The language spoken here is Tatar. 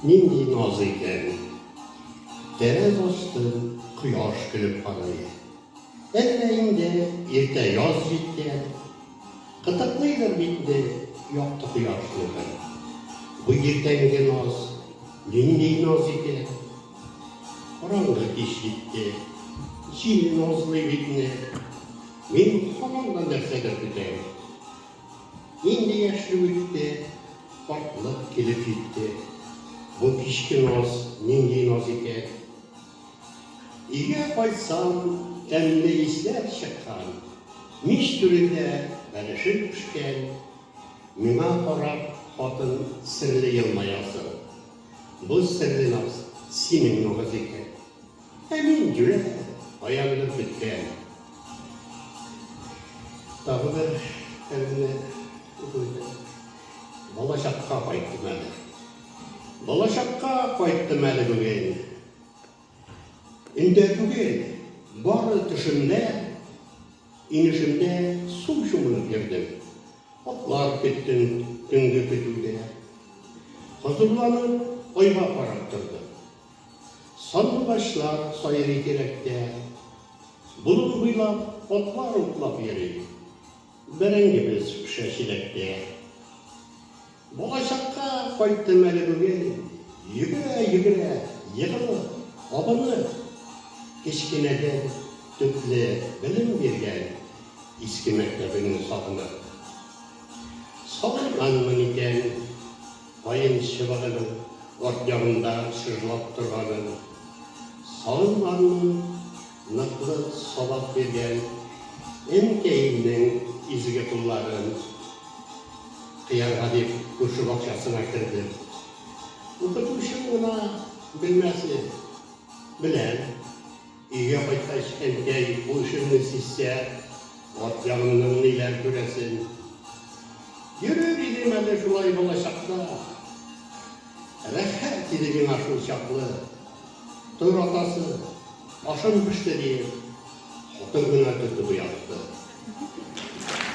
Нинди назы икән ул! Тәрәз астын кояш көлеп карый. Әллә инде иртә яз җиткән? Кытыклыйдыр бит инде якты кояшны бер. Бу иртәнге наз нинди наз икән! Караңгы кич җитте. Җил назлый бит инде. Мин һаман да нәрсәдер көтәм. Инде яшьлек үтте, картлык килеп җитте. Бу кичке наз нинди наз икән? Өйгә кайтсам, тәмле исләр чыккан. Мич түрендә бәлешем пешкән. Миңа карап, хатын серле елмаясың. Бу серле наз синең наз икән. Ә мин йөрәк аягының беткән. Тагы бер әңгәмә уку итәм. Балачакка кайттым әле. Балачакка кайттым әле бүген. Өндә түгел, бары төшемдә, инешемдә су чумынып йөрдем. Атлар көттем төнге көтүдә. Хозурланып айга карап тордым. Сандугачлар сайрый тирәктә. Болын буйлап атлар утлап йөри. Бәрәңгебез пешә чиләктә. Балачакка кайттым әле бүген. Йөгерә-йөгерә, егылып, абынып. Кечкенәдән төпле белем биргән иске мәктәбеңне сагынып. Салырганмын икән. Каен чыбыгының арт ягында чыжлап торганын, салымнарның ныклы сабак биргән энекәемнең изге кулларын кыярга дип күрше бакчасына кердем. Укытучым гына белмәсен, беләм. Өйгә кайткач, әнкәй бу эшемне сизсә, ат ягыннан ниләр күрәсен. Йөрер идем әле шулай балачакта. Рәхәт иде миңа шул чаклы. Тор, атасы, ашым пеште, диеп, хатын гына көтеп уятты.